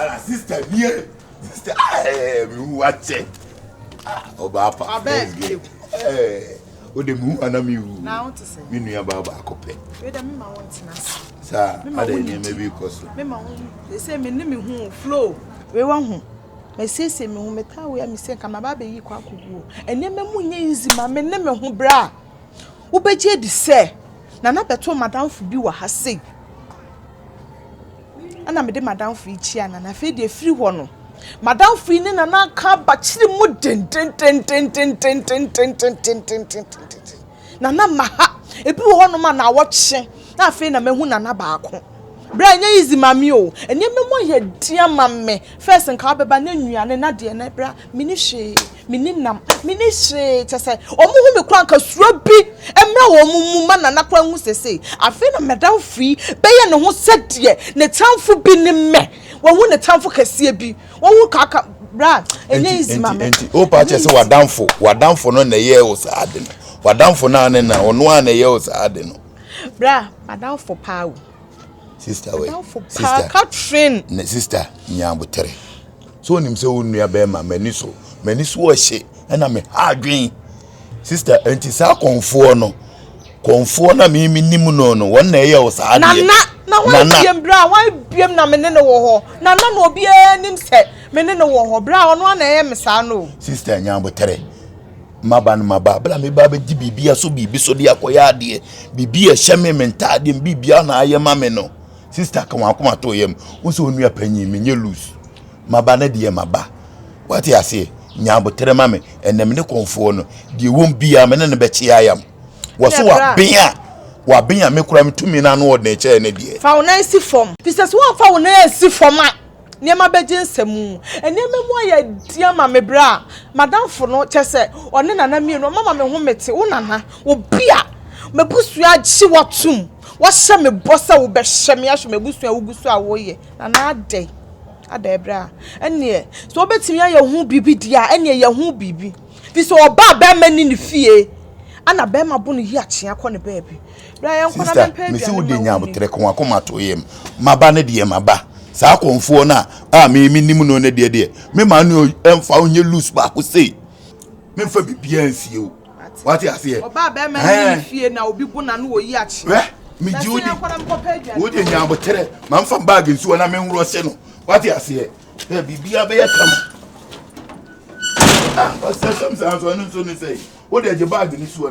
ala sista bie sista ɛɛ mi wu akyɛ ɔba apa fɛs gɛ ɛɛ o de mi wu ana mi wu mi nua ba baako pɛ saa ada nneɛma bi kɔ so. ɛsɛ mi ni mi hu flow. wei wa ho. Masiesie me ho, metaa wei a mise nka maba abɛyi kɔ akɔgu o. Nneɛma mu nyɛ easy ma me ne me ho bra. Wobɛgye adi sɛ Nana bɛtoo m'adamfo bi wɔ ha sei. Ɛna mede m'adamfo yi kyiaa Nana. Afei deɛ firi hɔ no, m'adamfo yi ne Nana aka abakyere mu dendenden. Nana ma ha. Ebi wɔ hɔnom a naawɔtwe na afei na mahu nana baako. Bra ɛnyɛ easy ma me o. Nneɛma mu ayɛ den ama me. First nka wobɛba na nnuane na deɛ na bra menni hwee. Menni nam. Menni hwee. Kyerɛ sɛ wɔn hu me koraa nka suro bi mmra wɔn mu ma nana koraa hu seesei. Afei na madamfo yi bɛyɛ ne ho sɛdeɛ ne tamfo bi ne me. Wahu ne tamfo kɛseɛ bi. wowu kaka bra ɛnyɛ easy ma me nti o pa kyɛ sɛ wadanfo wadanfo no na ɛyɛ wo saa de no wadanfo no ane na ɔno a na ɛyɛ wo saa de no bra madanfo paa o sister wɛ sister Catherine ne sister nyabotere so onim sɛ wo nua bɛrima m'ani so m'ani so ɔhye ɛna me ha adwen Sister, enti saa kɔnfoɔ no, kɔnfoɔ na me me nim no no, wɔn na ɛyɛ wo saa adeɛ. Nana, na wɔn abiem bra, wɔn abiem na me ne no wɔ hɔ. Nana na obiara nim sɛ me ne no wɔ hɔ bra, ɔno ana ɛyɛ me saa no. Sister Nyanbotere, maba no maba, bra me ba bɛgye biribi aso biribi so de akɔyɛ adeɛ, biribi a ɛhyɛ me me ntaadeɛ, biribiara na ayɛ ma me no. Sista ka wɔn akoma to yam. Wo sɛ onua panyin, menyɛ loose. Maba na deɛ maba. Wate aseɛ? Nya abotere ma me. Ɛnna me ne kɔnfoɔ no, deɛ wɔn biara me ne no bɛkye ayam. Wɔ so waben a, waben a me koraa metumi no ano ɔdene kyɛɛ ne deɛ. Fa wo nan si fam. Fi sɛ sɛ woamfa wo nan ansi fam a. nneɛma bɛgye nsa mu. Nneɛma mu ayɛ den ama me berɛ a m'adamfo no, kyerɛ sɛ, ɔne Nana mmienu, wɔama me ho mete, wo Nana, obi a m'abusua gye wo atom, woahyɛ me bɔ sɛ wobɛhwɛ me, ahwɛ m'abusua a wogu so a woreyɛ. Nana adɛn? Adɛn berɛ a? Ɛnneɛ, sɛ wobɛtumi ayɛ ho biribi deɛ a, ɛnneɛ yɛ ho biribi. Ɛfiri sɛ, ɔbaa a, barima nni ne fie, ɛnna barima bo no yi akyea kɔ ne baabi. Sister mesi wo de nya abotere ko akoma to yam maba ne deɛ maba saa kɔnfoɔ no a me me nim no ne deɛ deɛ me ma no ɛmfa wo nyɛ loose baako sei me mfa biribiara nsie o wate aseɛ ɔbaa bɛrima ne fie na obi bo na no wɔ yi akyi wɛ me gye wo di wo de nya abotere ma mfa baage nsuo na me nworɔ se no wate aseɛ ɛ biribiara bɛyɛ kama ah ɔsɛ sɛm saa nso ɛno nso ne sɛ wo de gye baage ne suo